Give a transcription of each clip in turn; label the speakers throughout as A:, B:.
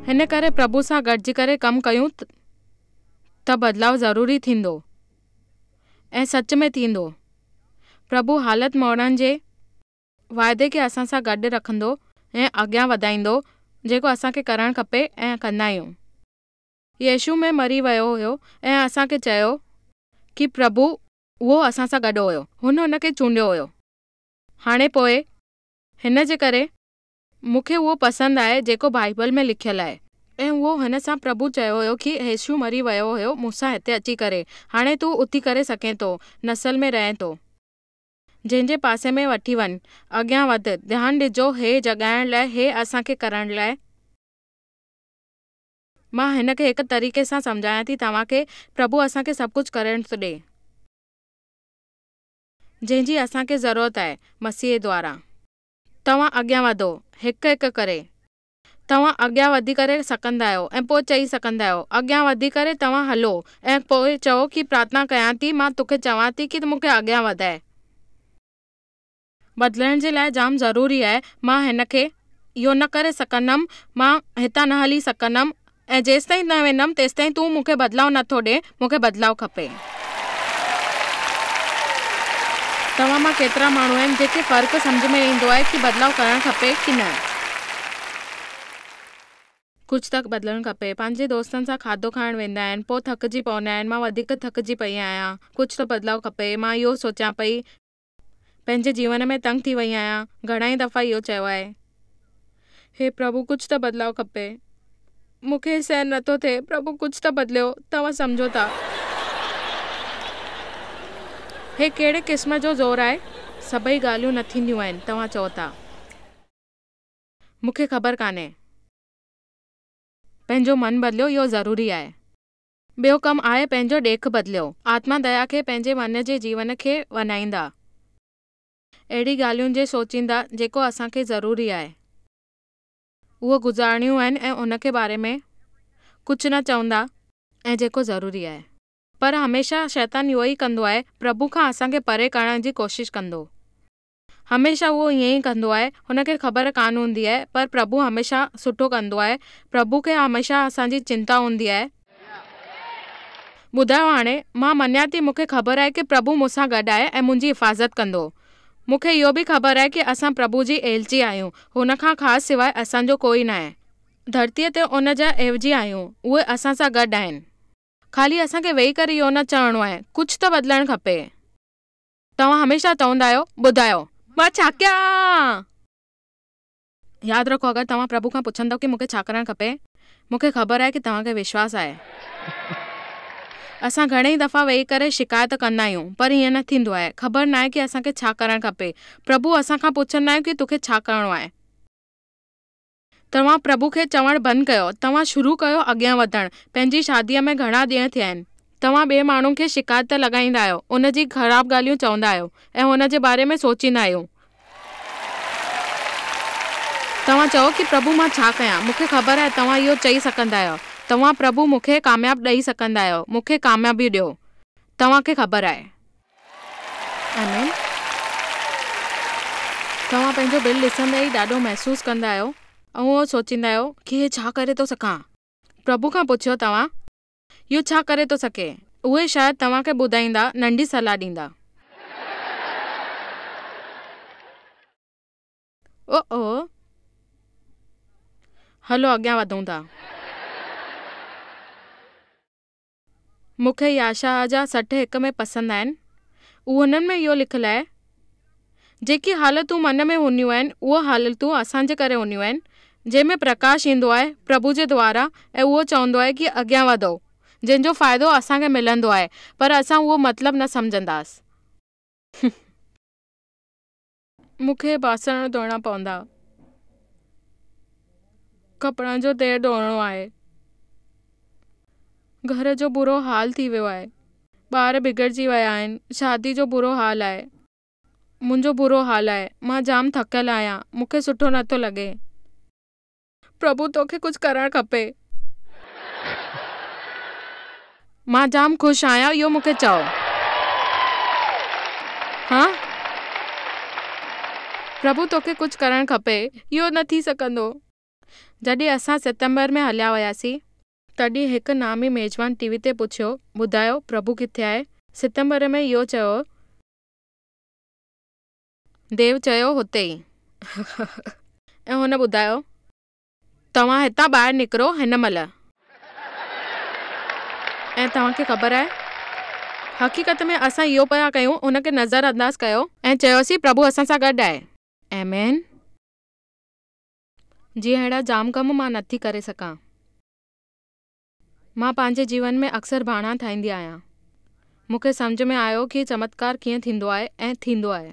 A: هن ڪري پرڀو سان گڏجي ڪري ڪم ڪيون ته بدلاء ضروري ٿيندو ۽ سچ ۾ ٿيندو. پرڀو حالت موڙڻ جي واعدي کي اسان سان گڏ رکندو ۽ اڳيان وڌائيندو جيڪو اسان کي ڪرڻ کپي ۽ ڪندا آهيون. يسوع ۾ مري ويو هيو ۽ اسان کي چيو ڪي پرڀو اهو اسان سان گڏ هيو هن هن کي چونڊيو هيو هاڻي پوء هن جي ڪري مون کي اهو پسند آهي جيڪو بائبل ۾ لکيل آهي ۽ اهو هن سان پرڀو چيو هيو ڪي يسوع مري ويو هيو مون سان هتي اچي ڪري هاڻي تون اٿي ڪري سگهين ٿو نسل ۾ رهين ٿو جنهن جي پاسي ۾ وٺي وڃ اڳيان وڌ ڌيان ڏجو هي جڳائڻ لاء هي اسان کي ڪرڻ لاء مان هن کي هڪ طريقي سان سمجهايان ٿي توهان کي، پرڀو اسان کي سڀ ڪجهه ڪرڻ ٿو ڏي. جنهن جي اسان کي ضرورت آهي، مسيح دوارا. توهان اڳيان وڌو، هڪ هڪ ڪري. توهان اڳيان وڌي ڪري سڪندا آهيو ۽ پوء چئي سڪندا آهيو. اڳيان وڌي ڪري توهان هلو ۽ پوء چئو ڪي پرارٿنا ڪيان ٿي، مان توکي چوان ٿي ڪي مون کي اڳيان وڌاء. بدلڻ جي لاء جام ضروري آهي مان هن کي اهو نه ڪري سگهندم مان هتان نه هلي سگهندم ۽ جيستائين نه ويندم تيستائين تون مون کي بدلاء نه ٿو ڏي مون کي بدلاء کپي. توهان مان ڪيترا ماڻهو آهن جنهن کي فرق سمجهه ۾ ايندو آهي ڪي بدلاء ڪرڻ کپي ڪي نه. ڪجهه ته بدلڻ کپي. پنهنجي دوستن سان کاڌو کائڻ ويندا آهن پوء ٿڪجي پوندا آهن مان وڌيڪ ٿڪجي پئي آهيان ڪجهه ته بدلاء کپي مان اهو سوچيان پئي. پنهنجي جيون ۾ تنگ ٿي وئي آهيان گهڻا ئي دفعا اهو چيو آهي هي پرڀو ڪجهه ته بدلاء کپي مون کي سهن نٿو ٿئي پرڀو ڪجهه ته بدليو توهان سمجهو ٿا هي ڪهڙي قسم جو زور آهي سڀئي ڳالهيون نه ٿينديون آهن توهان چئو ٿا مون کي خبر ڪانهي پنهنجو من بدليو اهو ضروري آهي. ٻيو ڪم آء پنهنجو ڏيک بدليو. آتما ديا کي پنهنجي من جي جيون کي وڃائيندا. اهڙي ڳالهيون جي سوچيندا جيڪو اسان کي ضروري آهي اهو گذارڻيون آهن ۽ ان کي باري ۾ ڪجهه نه چوندا ۽ جيڪو ضروري آهي. پر هميشه شيطان اهو ئي ڪندو آهي پرڀو کان اسان کي پري ڪرڻ جي ڪوشش ڪندو هميشه هو ائين ئي ڪندو آهي. هن کي خبر ڪانه هوندي آهي پر پرڀو هميشه سٺو ڪندو آهي. پرڀو کي هميشه اسان جي چنتا هوندي آهي. ٻڌايو هاڻي مان مڃان ٿي مون کي خبر آهي ڪي پرڀو مون سان گڏ آهي ۽ منهنجي حفاظت ڪندو. مون کي اهو به خبر آهي ڪي اسان پرڀو جي ايلچي آهيون. هن کان خاص سواء اسان جو ڪوئي ناهي. ڌرتيء تي ان جا ايوجي آهيون. اهي اسان سان گڏ آهن. خالي اسان کي ويهي ڪري اهو نه چوڻو آهي. ڪجهه ته بدلڻ کپي. توهان هميشه چوندا آهيو، ٻڌايو، مان ڇا ڪيان؟ ياد رکو، اگر توهان پرڀو کان پڇندؤ ڪي مون کي ڇا ڪرڻ کپي، مون کي خبر آهي ڪي توهان کي وشواس آهي. اسان گهڻي ئي دفعا ويهي ڪري شڪايت ڪندا آهيون، پر ائين نه ٿيندو آهي. خبر ناهي ڪي اسان کي ڇا ڪرڻ کپي. پرڀو اسان کان پڇندؤ ڪي توکي ڇا ڪرڻو آهي. توهان پرڀو کي چوڻ بند ڪيو. توهان شروع ڪيو اڳيان وڌڻ. پنهنجي شاديء ۾ گهڻا ڏينهن ٿيا آهن. توهان ٻئي ماڻهو کي شڪايت ته لڳائيندا آهيو، ان جي خراب ڳالهيون چوندا آهيو ۽ هن جي باري ۾ سوچيندا آهيو. توهان چئو ڪي پرڀو مان ڇا ڪيان؟ مون کي خبر آهي توهان اهو چئي سگهندا آهيو. توهان پرڀو مون کي ڪامياب ڏئي سگهندا آهيو. مون کي ڪاميابي ڏيو. توهان کي خبر آهي. آمين توهان پنهنجو بل ڏسندي ئي ڏاڍو محسوس ڪندا آهيو ۽ اهو سوچيندا آهيو ڪي هي ڇا ڪري ٿو سکان پرڀو کان پڇيو توهان اهو ڇا ڪري ٿو سکي اهي شايد توهان کي ٻڌائيندا ننڍي صلاح ڏيندا. او او هلو اڳيان وڌون ٿا. مون کي ياشاهه جا سٽ هڪ ۾ پسند آهن. اهو هنن ۾ اهو لکيل آهي، جيڪي حالتون من ۾ هونديون آهن، اهي حالتون اسان جي ڪري هونديون آهن، جنهن ۾ پرڪاش ايندو آهي پرڀو جي دواران ۽ اهو چوندو آهي ڪي اڳيان وڌو، جنهن جو فائدو اسان کي ملندو آهي، پر اسان اهو مطلب نه سمجهنداسين. مون کي ٻاسر ڌوئڻا پوندا ڪپڙن جو تهه ڌوئڻو آهي گهر جو برو حال ٿي ويو آهي ٻار بگڙجي ويا آهن شادي جو برو حال آهي منهنجو برو حال آهي مان جام ٿڪل آهيان مون کي سٺو نٿو لڳي. پرڀو توکي ڪجھ ڪرڻ کپي. مان جام خوش آهيان اهو مون کي چئو. ها پرڀو توکي ڪجھ ڪرڻ کپي اهو نه ٿي سگهندو. جڏهن اسان ستمبر ۾ هليا وياسين. تڏهن هڪ نامي ميزبان ٽي وي تي پڇيو ٻڌايو پرڀو ڪٿي آهي. ستمبر ۾ اهو چيو هو. ديو چيو، هتي ئي. ۽ هن ٻڌايو، توهان هتان ٻاهر نڪرو هن مهل. ۽ توهان کي خبر آهي، حقيقت ۾ اسان اهو پيا ڪيون، ان کي نظر انداز ڪيو. ۽ چيوسين، پرڀو اسان سان گڏ آهي. آمين. جيئن اهڙا جام ڪم مان نٿي ڪري سگهان. مان پنهنجي جيون ۾ اڪثر بهانا ٺاهيندي آهيان. مون کي سمجهه ۾ آيو ڪي چمتڪار ڪيئن ٿيندو آهي ۽ ٿيندو آهي.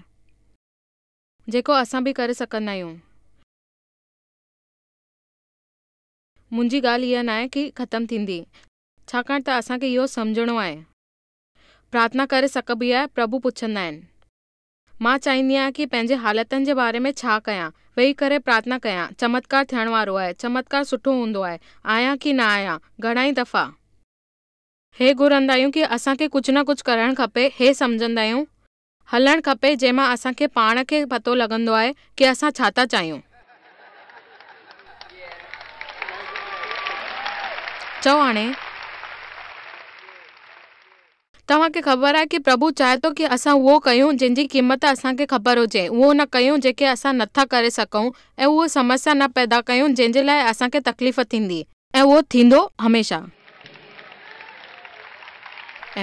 A: جيڪو اسان به ڪري سگهندا آهيون. منهنجي ڳالهه اها ناهي ڪي ختم ٿيندي ڇاڪاڻ ته اسان کي اهو سمجهڻو آهي. پرارٿنا ڪري سگهبي آهي، پرڀو پڇندا آهن. مان چاهيندي آهيان ڪي پنهنجي حالتن جي باري ۾ ڇا ڪيان؟ ويهي ڪري پرارٿنا ڪيان؟ چمتڪار ٿيڻ وارو آهي؟ چمتڪار سٺو هوندو آهي؟ آهيان ڪي نه آهيان؟ گهڻائي دفعا. هي گهرندا آهيون ڪي اسان کي ڪجهه نه ڪجهه ڪرڻ کپي، هي سمجهندا آهيون. هلڻ کپي جنهن مان اسان کي پاڻ کي پتو لڳندو آهي ڪي اسان ڇا ٿا چاهيون. چئو هاڻي. توهان کي خبر آهي ڪي پرڀو چاهي ٿو ڪي اسان اهو ڪيون جنهن جي قيمت اسان کي خبر هجي، اهو نه ڪيون جيڪي اسان نه ٿا ڪري سگهون ۽ اهو سمسيا نه پيدا ڪيون جنهن جي لاء اسان کي تڪليف ٿيندي. ۽ اهو ٿيندو هميشه.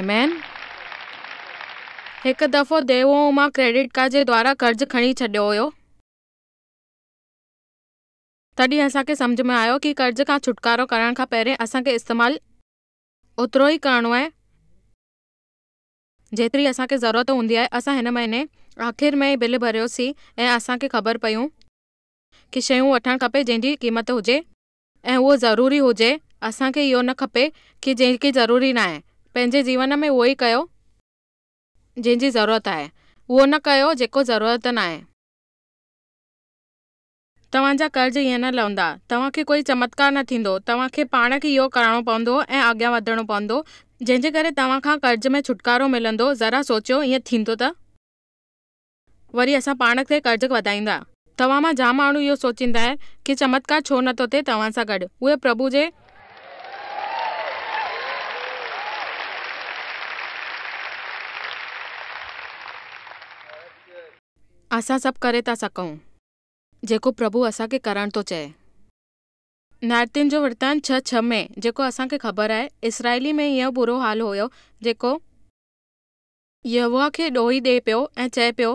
A: آمين. هڪ دفعو دي هو مان ڪريڊٽ ڪارڊ جي دوارا قرض کڻي ڇڏيو هيو. تڏهن اسان کي سمجهه ۾ آيو ڪي قرض کان ڇوٽڪارو ڪرڻ کان پهرين اسان کي استعمال. اوترو ئي ڪرڻو آهي جيتري اسان کي ضرورت هوندي آهي اسان هن مهيني آخر ۾ ئي بل ڀريو سين ۽ اسان کي خبر پيون ڪي شيون وٺڻ کپي جنهن جي قيمت هجي ۽ اهو ضروري هجي اسان کي اهو نه کپي ڪي جيڪي ضروري نه آهي پنهنجي جيون ۾ اهو ئي ڪيو جنهن جي ضرورت آهي اهو نه ڪيو جيڪو ضرورت نه آهي. توهان جا قرض ائين نه لهندا. توهان کي ڪوئي چمتڪار نه ٿيندو. توهان کي پاڻ کي اهو ڪرڻو پوندو ۽ اڳيان وڌڻو پوندو، جنهن جي ڪري توهان کان قرض ۾ ڇوٽڪارو ملندو. ذرا سوچيو، ائين ٿيندو ته وري اسان پاڻ تي قرض وڌائيندا. توهان مان جام ماڻهو اهو سوچيندا آهن ڪي چمتڪار ڇو نه ٿو ٿئي توهان سان گڏ. اهي پرڀو جي. اسان سڀ ڪري ٿا سگهون. جيڪو پرڀو اسان کي ڪرڻ ٿو چئي. نارتين جو ورتان ڇهه ڇهه ۾ جيڪو اسان کي خبر آهي، اسرائيلي ۾ اهو برو حال هيو جيڪو. يهوه کي ڏوهي ڏي پيو ۽ چئي پيو،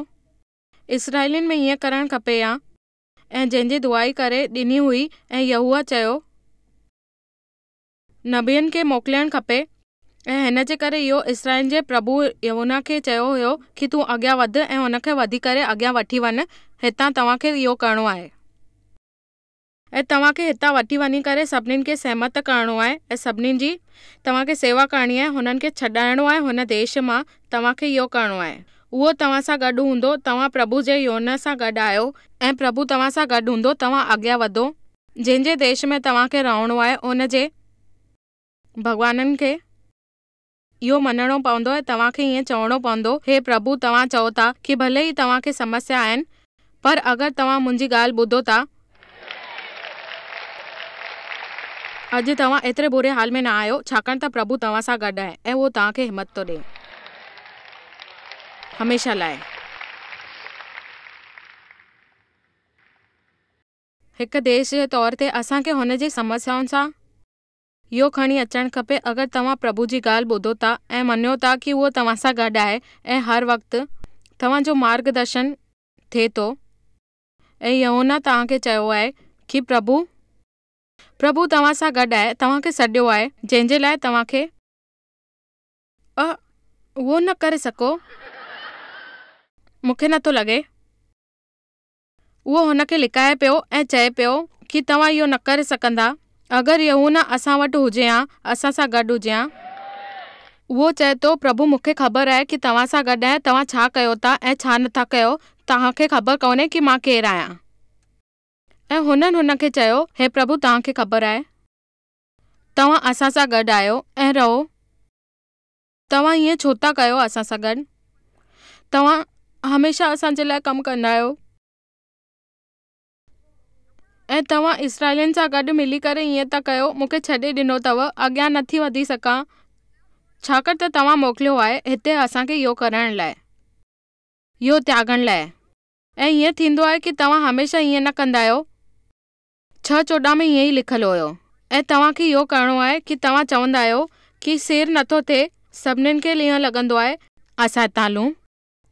A: اسرائيلين ۾ ائين ڪرڻ کپي ها. ۽ جنهن جي دعائي ڪري ڏني هئي ۽ يهوه چيو. نبين کي موڪلڻ کپي ۽ هن جي ڪري اهو اسرائيلن جي پرڀوء يهونان کي چيو هيو کي تون اڳيان وڌ ۽ هن کي وڌي ڪري اڳيان وٺي وڃ هتان توهان کي اهو ڪرڻو آهي. ۽ توهان کي هتان وٺي وڃي ڪري سڀنين کي سهمت ڪرڻو آهي ۽ سڀنين جي توهان کي سيوا ڪرڻي آهي هنن کي ڇڏائڻو آهي هن ديش مان توهان کي اهو ڪرڻو آهي اهو توهان سان گڏ هوندو توهان پرڀوء جي يهونان سان گڏ آهيو ۽ پرڀوء توهان سان گڏ هوندو توهان اڳيان وڌو جنهن جي ديش ۾ توهان کي رهڻو آهي ان جي ڀڳوانن کي اهو مڃڻو پوندو ۽ توهان کي ائين چوڻو پوندو، هي پرڀو توهان چئو ٿا کي ڀلي ئي توهان کي سمسيا آهن پر اگر توهان منهنجي ڳالهه ٻڌو ٿا اڄ توهان ايتري بري حال ۾ نه آهيو ڇاڪاڻ ته پرڀو توهان سان گڏ آهي ۽ اهو توهان کي همت ٿو ڏئي هميشه لاء. هڪ ديش جي طور تي اسان کي هن جي سمسيائن سان اهو کڻي اچڻ کپي اگر توهان پرڀو جي ڳالهه ٻڌو ٿا ۽ مڃيو ٿا ڪي اهو توهان سان گڏ آهي ۽ هر وقت توهان جو مارگ درشن ٿئي ٿو ۽ يهونا توهان کي چيو آهي ڪي پرڀو پرڀو توهان سان گڏ آهي توهان کي سڏيو آهي جنهن جي لاء توهان کي اهو نه ڪري سگهو مون کي نٿو لڳي. اهو هن کي لڪائي پيو ۽ چئي پيو کي توهان اهو نه ڪري سگهندا اگر يهونا اسان وٽ هجي ها اسان سان گڏ هجي ها. اهو چئي ٿو پرڀو مون کي خبر آهي کي توهان سان گڏ آهيان توهان ڇا ڪيو ٿا ۽ ڇا نه ٿا ڪيو توهان کي خبر ڪونهي کي مان ڪير آهيان. ۽ هنن هن کي چيو هي پرڀو توهان کي خبر آهي توهان اسان سان گڏ آهيو ۽ رهو. توهان ائين ڇو ٿا ڪيو اسان سان گڏ؟ توهان هميشه اسان جي لاء ڪم ڪندا آهيو ۽ توهان اسرائيلين سان گڏ ملي ڪري ائين ٿا ڪيو، مون کي ڇڏي ڏنو اٿو، اڳيان نه ٿي وڌي سگهان، ڇاڪاڻ ته توهان موڪليو آهي هتي اسان کي اهو ڪرڻ لاء، اهو تياڳڻ لاء. ۽ ائين ٿيندو آهي ڪي توهان هميشه ائين نه ڪندا آهيو. ڇهه چوڏهن ۾ ائين ئي لکيل هيو ۽ توهان کي اهو ڪرڻو آهي ڪي توهان چوندا آهيو ڪي سير نٿو ٿئي سڀنين کي اهو لڳندو آهي اسان هتان هلون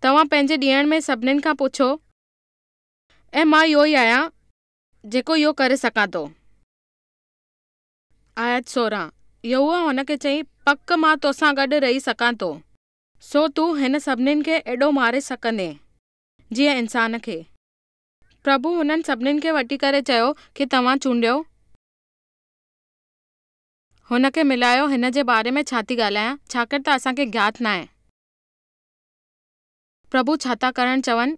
A: توهان پنهنجي ڏيڻ ۾ سڀنين کان پڇو ۽ مان اهو ئي آهيان جيڪو اهو ڪري سگهان ٿو آيت سورهن يهوه هن کي چيائين پڪ مان توسان گڏ رهي سگهان ٿو سو تون هن سڀنين کي اهڙو ماري سگهندين جيئن انسان کي. پرڀو هنن سڀنين کي وٺي ڪري چيو کي توهان چونڊيو هن کي ملايو هن جي باري ۾ ڇا ٿي ڳالهايان ڇاڪر ته اسان کي گيات ناهي پرڀو ڇا ٿا ڪرڻ چون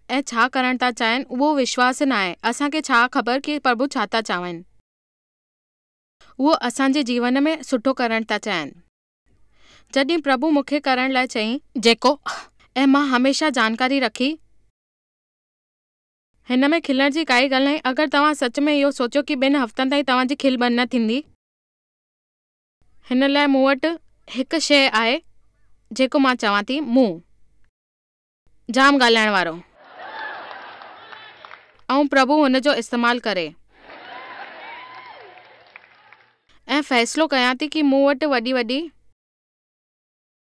A: ۽ ڇا ڪرڻ ٿا چاهين اهو وشواس ناهي اسان کي ڇا خبر ڪي پرڀو ڇا ٿا چاهين اهو اسان جي جيون ۾ سٺو ڪرڻ ٿا چاهين جڏهن پرڀو مون کي ڪرڻ لاء چئي جيڪو ۽ مان هميشه جانڪاري رکي. هن ۾ کلڻ جي ڪائي ڳالهه ناهي اگر توهان سچ ۾ اهو سوچيو ڪي ٻن هفتن تائين توهان جي کل بند نه ٿيندي هن لاء مون وٽ هڪ شيء آهي جيڪو مان چوان ٿي مون جام ڳالهائڻ وارو ۽ پرڀو هن جو استعمال ڪري ۽ فيصلو ڪيان ٿي ڪي مون وٽ وڏي وڏي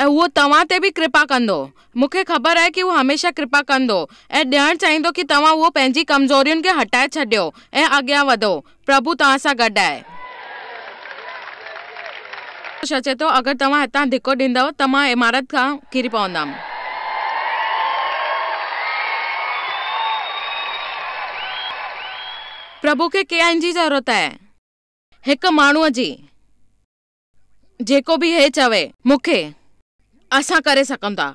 A: ۽ هو توهان تي به ڪرپا ڪندو. مون کي خبر آهي ڪي هو هميشه ڪرپا ڪندو ۽ ڏيڻ چاهيندو ڪي توهان اهو پنهنجي ڪمزورين کي هٽائي ڇڏيو ۽ اڳيان وڌو. پرڀو توهان سان گڏ آهي. هو اچي ٿو اگر توهان هتان ڌڪو ڏيندؤ ته مان عمارت کان ڪري پوندم. پرڀو کي ڪئين جي ضرورت آهي؟ هڪ ماڻهوء جي. جيڪو به هي چوي. مون کي. اسان ڪري سگهون ٿا.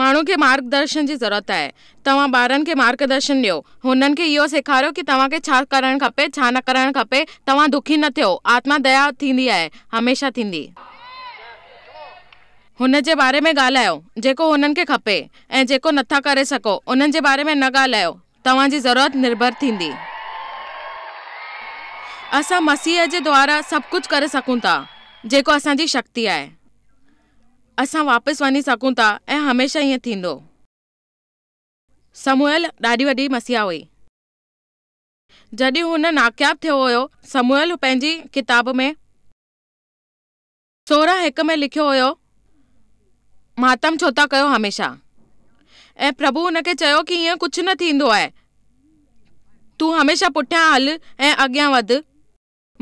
A: ماڻهن کي مارگدرشن جي ضرورت آهي. توهان ٻارن کي مارگدرشن ڏيو. هنن کي اهو سيکاريو ڪي توهان کي ڇا ڪرڻ کپي ڇا نه ڪرڻ کپي. توهان دکي نه ٿيو. آتما ديا ٿيندي آهي. هميشه ٿيندي. هن جي باري ۾ ڳالهايو جيڪو هنن کي کپي ۽ جيڪو نٿا ڪري سگهو انهن جي باري ۾ نه ڳالهايو توهان جي ضرورت نرڀر ٿيندي. اسان مسيح جي دوارا سڀ ڪجهه ڪري سگهون ٿا جيڪو اسان جي شڪتي آهي. اسان واپس وڃي سگهون ٿا ۽ هميشه ائين ٿيندو. سموئيل ڏاڍي وڏي مسيحا هئي. جڏهن هن ناڪياب ٿيو هيو سموئيل پنهنجي ڪتاب ۾ سورهن هڪ ۾ لکيو هيو، ماتم ڇو ٿا ڪيو هميشه؟ ۽ پرڀو هن کي چيو ڪي ائين ڪجهه نه ٿيندو آهي. تون هميشه پٺيان هل ۽ اڳيان وڌ.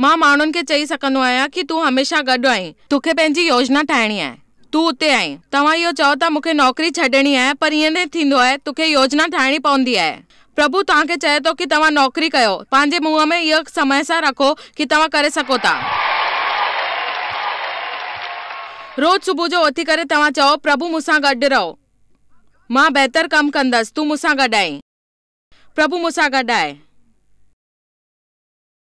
A: مان ماڻهن کي چئي سگهندو آهيان ڪي تون هميشه گڏ آهين. توکي پنهنجي يوجنا ٺاهڻي آهي. تون اتي آهين. توهان اهو چئو ٿا مون کي نوڪري ڇڏڻي آهي پر ائين نه ٿيندو آهي. توکي يوجنا ٺاهڻي پوندي آهي. پرڀو توهان کي چئي ٿو ڪي توهان نوڪري ڪيو، پنهنجي منهن ۾ اهو سمهه سان رکو ڪي توهان ڪري سگهو ٿا. روز صبح جو اٿي ڪري توهان چئو، پرڀو مون سان گڏ رهو، مان بهتر ڪم ڪندس، تون مون سان گڏ آهين. پرڀو مون سان گڏ آهي.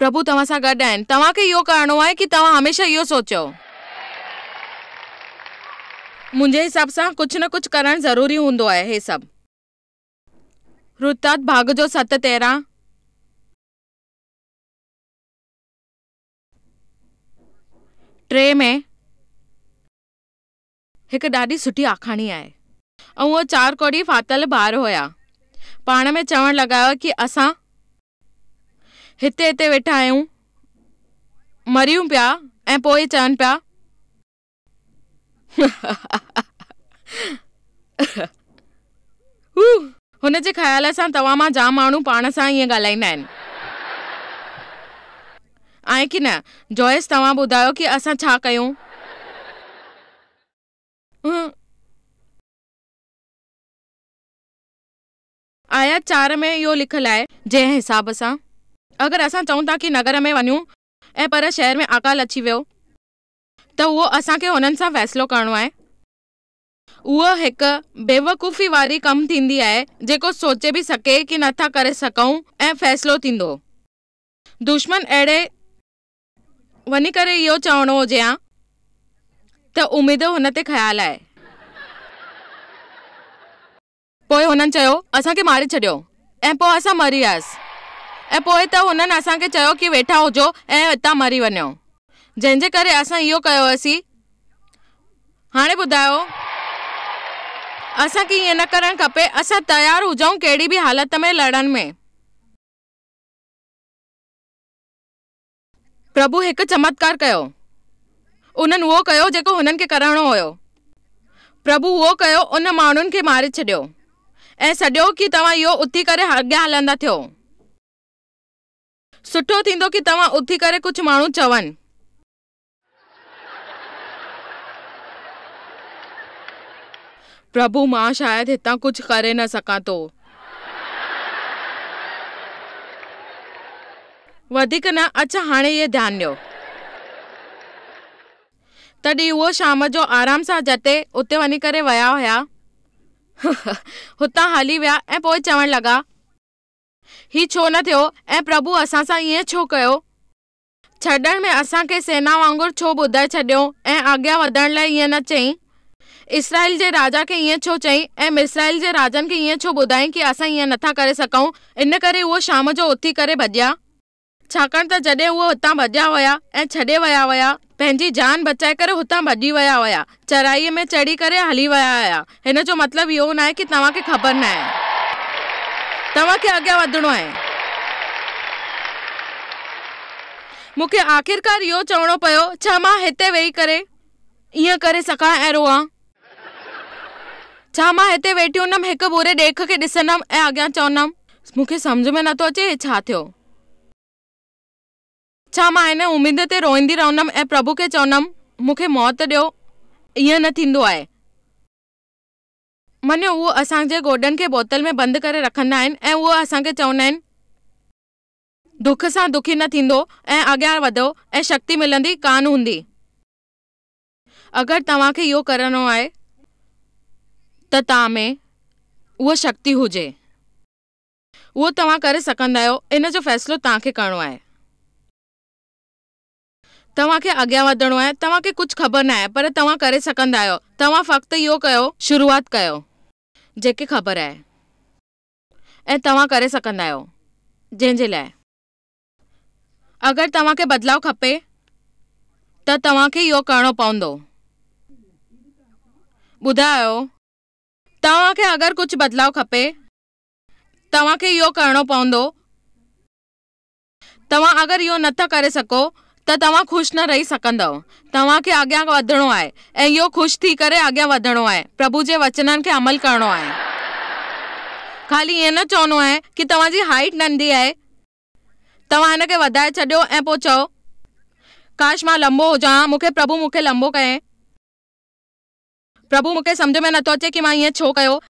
A: پرڀو توهان سان گڏ آهن. توهان کي اهو ڪرڻو آهي ڪي توهان هميشه اهو سوچيو. منهنجي حساب سان ڪجهه نه ڪجهه ڪرڻ ضروري هوندو آهي هي سڀ رتات ڀاڳ جو ست تيرهن. ٽي ۾ هڪ ڏاڍي سٺي آکاڻي آهي. ۽ اهي چار ڪوڏي ڦاٿل ڀار هيا پاڻ ۾ چوڻ لڳا هيا ڪي اسان. هتي هتي ويٺا آهيون مريون پيا ۽ پوء چون پيا هن جي خيال سان توهان مان جام ماڻهو پاڻ سان ائين ڳالهائيندا آهن آهي ڪي نه جويس توهان ٻڌايو ڪي اسان ڇا ڪيون. آيت چار ۾ اهو لکيل آهي. جنهن حساب سان اگر اسان چئون ٿا ڪي نگر ۾ وڃون ۽ پر شهر ۾ اڪال اچي ويو ته اهو اسان کي هنن سان فيصلو ڪرڻو آهي. اهو هڪ بيوقوفي واري ڪم ٿيندي آهي جيڪو سوچي به سڪي ڪي نه ٿا ڪري سڪئون ۽ فيصلو ٿيندو دشمن اهڙي وڃي ڪري اهو چوڻو هجي ها ته اميد هن تي خيال آهي. پوء هنن چيو، اسان کي ماري ڇڏيو ۽ پوء اسان مري آيس ۽ پوء ته هنن اسان کي چيو ڪي ويٺا هجو ۽ اتان مري وڃو، جنهن جي ڪري اسان اهو ڪيو هئسين. هاڻي ٻڌايو، اسان کي ائين نه ڪرڻ کپي، اسان تيار هجون ڪهڙي به حالت ۾ لڙڻ ۾. پرڀو هڪ چمتڪار ڪيو. انهن اهو ڪيو جيڪو هنن کي ڪرڻو هيو. پرڀو اهو ڪيو ان ماڻهن کي ماري ڇڏيو ۽ سڏيو ڪي توهان اهو اٿي ڪري اڳيان هلندا ٿيو. سٺو ٿيندو ڪي توهان اٿي ڪري ڪجهه ماڻهو چون. پرڀو، مان شايد هتان ڪجهه ڪري نه سگهان ٿو. وڌيڪ نه، اچ هاڻي اهي ڌيان ڏيو. تڏهن اهو شام جو آرام سان جتي اتي وڃي ڪري ويا هيا، هتان هلي ويا ۽ پوء چوڻ لڳا، هي ڇو نه ٿيو ۽ پرڀو اسان سان ائين ڇو ڪيو؟ ڇڏڻ ۾ اسان کي سينا وانگر ڇو ٻڌائي ڇڏيو ۽ اڳيان وڌڻ لاء ائين نه چيائين؟ اسرائيل جي راجا کي ائين ڇو چيائين ۽ مصرائيل جي راجن کي ائين ڇو ٻڌايائين ڪي اسان ائين نٿا ڪري سگهون؟ ان ڪري اهو شام جو اٿي ڪري ڀڄيا. ڇاڪاڻ ته جڏهن اهي هتان ڀڄيا ويا ۽ ڇڏي ويا ويا، پنهنجي جان بچائي ڪري هتان ڀڄي ويا ويا. چرائيء ۾ چڙهي ڪري هلي ويا آهيا. هن جو مطلب اهو ناهي ڪي توهان کي خبر ناهي. توهان کي اڳيان وڌڻو آهي. مون کي آخرڪار اهو چوڻو پيو، ڇا مان هتي ويهي ڪري ائين ڪري سگهان ۽ روئان؟ ڇا مان هتي ويٺي هوندم هڪ ٻوري ڏيک کي ڏسندم ۽ اڳيان چوندم، مون کي سمجهه ۾ نٿو اچي هي ڇا ٿيو؟ ڇا مان هن اميد تي روئندي رهندم ۽ پرڀو کي چوندم، مون کي موت ڏيو؟ ائين نه ٿيندو آهي. مڃيو، اهو اسان جي گوڏن کي بوتل ۾ بند ڪري رکندا آهن ۽ اهو اسان کي چوندا آهن، دک سان دکي نه ٿيندو ۽ اڳيان وڌو ۽ شڪتي ملندي ڪانه هوندي. اگر توهان کي اهو ڪرڻو آهي ته توهان ۾ اها شڪتي هجي. اهو توهان ڪري سگهندا آهيو، ان جو فيصلو توهان کي ڪرڻو آهي. توهان کي اڳيان وڌڻو آهي. توهان کي ڪجهه خبر ناهي پر توهان ڪري سگهندا آهيو. توهان فقط اهو ڪيو. شروعات ڪيو. جيڪي خبر آهي ۽ توهان ڪري سگهندا آهيو جنهن جي لاء. اگر توهان کي بدلاء کپي ته توهان کي اهو ڪرڻو پوندو. ٻڌايو. توهان کي اگر ڪجهه بدلاء کپي. توهان کي اهو ڪرڻو پوندو. توهان اگر اهو نه ٿا ڪري سگهو ته توهان خوش نه رهي سگهندؤ. توهان کي اڳيان وڌڻو آهي ۽ اهو خوش ٿي ڪري اڳيان وڌڻو آهي. پرڀو جي وچنن کي عمل ڪرڻو آهي. خالي ائين نه چوڻو آهي ڪي توهان جي هائيٽ ننڍي آهي. توهان هن کي وڌائي ڇڏيو ۽ پوء چئو، ڪاش مان لنبو هجان ها، مون کي پرڀو مون کي لنبو ڪيائين. پرڀو مون کي سمجهه ۾ نه ٿو اچي ڪي مان ائين ڇو ڪيو.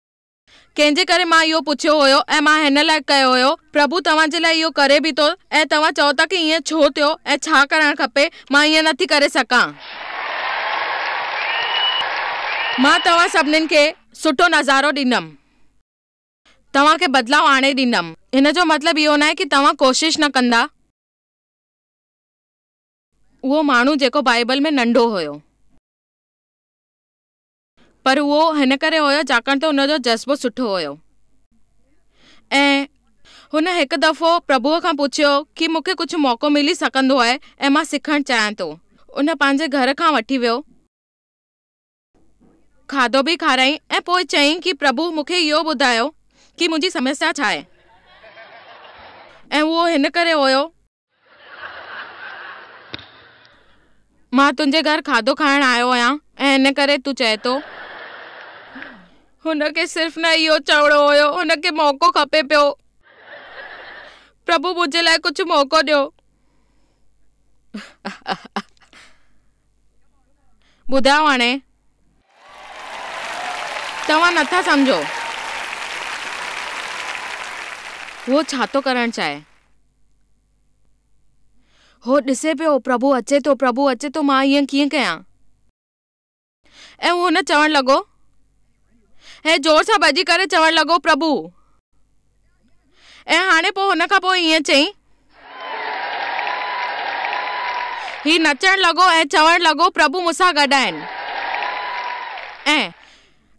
A: ڪنهن جي ڪري مان اهو پڇيو هيو ۽ مان هن لاء ڪيو هيو. پرڀو توهان جي لاء اهو ڪري به ٿو ۽ توهان چئو ٿا ڪي ائين ڇو ٿيو ۽ ڇا ڪرڻ کپي، مان ائين نٿي ڪري سگهان. مان توهان سڀنين کي سٺو نظارو ڏيندم. توهان کي بدلاء آڻي ڏيندم. هن جو مطلب اهو ناهي ڪي توهان ڪوشش نه ڪندا. اهو ماڻهو جيڪو بائبل ۾ ننڍو هيو. پر اهو هن ڪري هيو ڇاڪاڻ ته هن جو جذبو سٺو هيو ۽ هن هڪ دفعو پرڀوء کان پڇيو ڪي مون کي ڪجهه موقعو ملي سگهندو آهي ۽ مان سکڻ چاهيان ٿو ان پنهنجي گهر کان وٺي ويو کاڌو به کارائين ۽ پوء چيائين ڪي پرڀو مون کي اهو ٻڌايو ڪي منهنجي سمسيا ڇا آهي ۽ اهو هن ڪري هيو مان تنهنجي گهر کاڌو کائڻ آيو آهيان ۽ ان ڪري تون چئين ٿو. هن کي صرف نه اهو چوڻو هيو، هن کي موقعو کپي پيو. پرڀو منهنجي لاء ڪجهه موقعو ڏيو. ٻڌايو هاڻي توهان نٿا سمجهو هو ڇا ٿو ڪرڻ چاهي. هو ڏسي پيو پرڀو اچي ٿو پرڀو اچي ٿو مان ائين ڪيئن ڪيان. ۽ هن چوڻ لڳو ۽ زور سان ڀڄي ڪري چوڻ لڳو پرڀو. ۽ هاڻي پوء هن کان پوء ائين چئي. هي نچڻ لڳو ۽ چوڻ لڳو، پرڀو مون سان گڏ آهن. ۽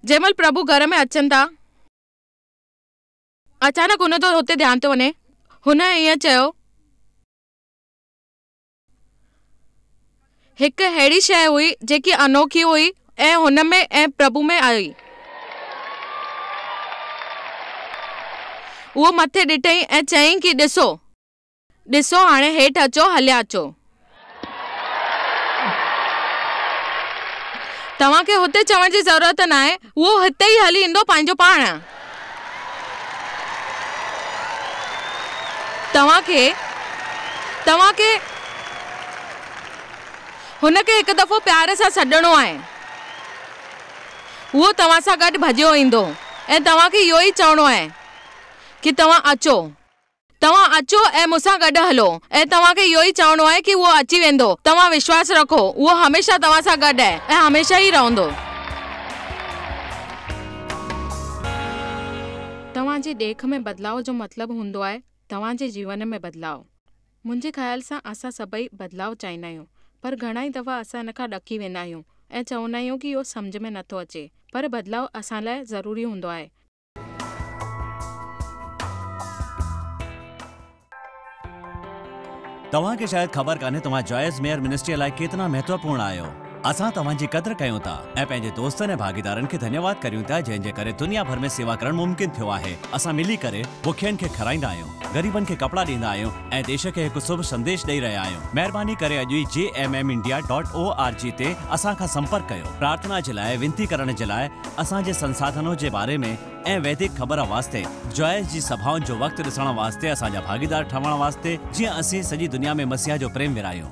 A: جنهن مهل پرڀو گهر ۾ اچن ٿا. اچانڪ هن جو هتي ڌيان ٿو وڃي. هن ائين چيو. هڪ اهڙي شيء هئي جيڪي انوکي هئي ۽ هن ۾ ۽ پرڀو ۾ آهي. هو مٿي ڏٺئي ۽ چيائين ڪي ڏسو، ڏسو، هاڻي هيٺ اچو، هليا اچو. توهان کي هتي چوڻ جي ضرورت ناهي. اهو هتي ئي هلي ايندو پنهنجو پاڻ. توهان کي، توهان کي هن کي هڪ دفعو پيار سان سڏڻو آهي. اهو توهان سان گڏ ڀڄيو ايندو ۽ توهان کي اهو ئي چوڻو آهي ڪي توهان اچو. توهان اچو ۽ مون سان گڏ هلو ۽ توهان کي اهو ئي چوڻو آهي ڪي اهو اچي ويندو. توهان وشواس رکو اهو هميشه توهان سان گڏ آهي ۽ هميشه ئي رهندو. توهان جي ڏيک ۾ بدلاء جو مطلب هوندو آهي توهان جي جيون ۾ بدلاء. منهنجي خيال سان اسان سڀئي بدلاء چاهيندا آهيون پر گهڻائي دفعا اسان ان کان ڏڪي ويندا آهيون ۽ چوندا آهيون ڪي اهو سمجهه ۾ نٿو اچي پر بدلاء اسان لاء ضروري هوندو آهي.
B: توهان کي شايد خبر ڪانهي توهان جائز ميئر منسٽريء لاء ڪيترا مهتوپورڻ آهيو. اسان توهان جي قدر ڪيون ٿا ۽ پنهنجي دوستن ۽ ڀاڳيدارن کي ڌنيواد ڪريون ٿا جنهن جي ڪري دنيا ڀر ۾ سيوا ڪرڻ ممڪن ٿيو آهي. اسان ملي ڪري بکين کي کارائيندا آهيون، غريبن کي ڪپڙا ڏيندا آهيون ۽ ديش کي هڪ سڀ سنديش ڏئي رهيا آهيون. مهرباني ڪري اڄ ئي G M M India dot O R G تي اسان کان سمپرڪ ڪيو. پرارٿنا جي لاء، وينتي ڪرڻ جي لاء، اسان جي سنساڌنو جي باري ۾ ۽ ويدڪ خبر واسطي جوائس جي سڀائن جو وقت ڏسڻ واسطي اسان جا ڀاڳيدار ٺهڻ واسطي جيئن اسين سڄي دنيا ۾ مسيح جو پريم ورهايون.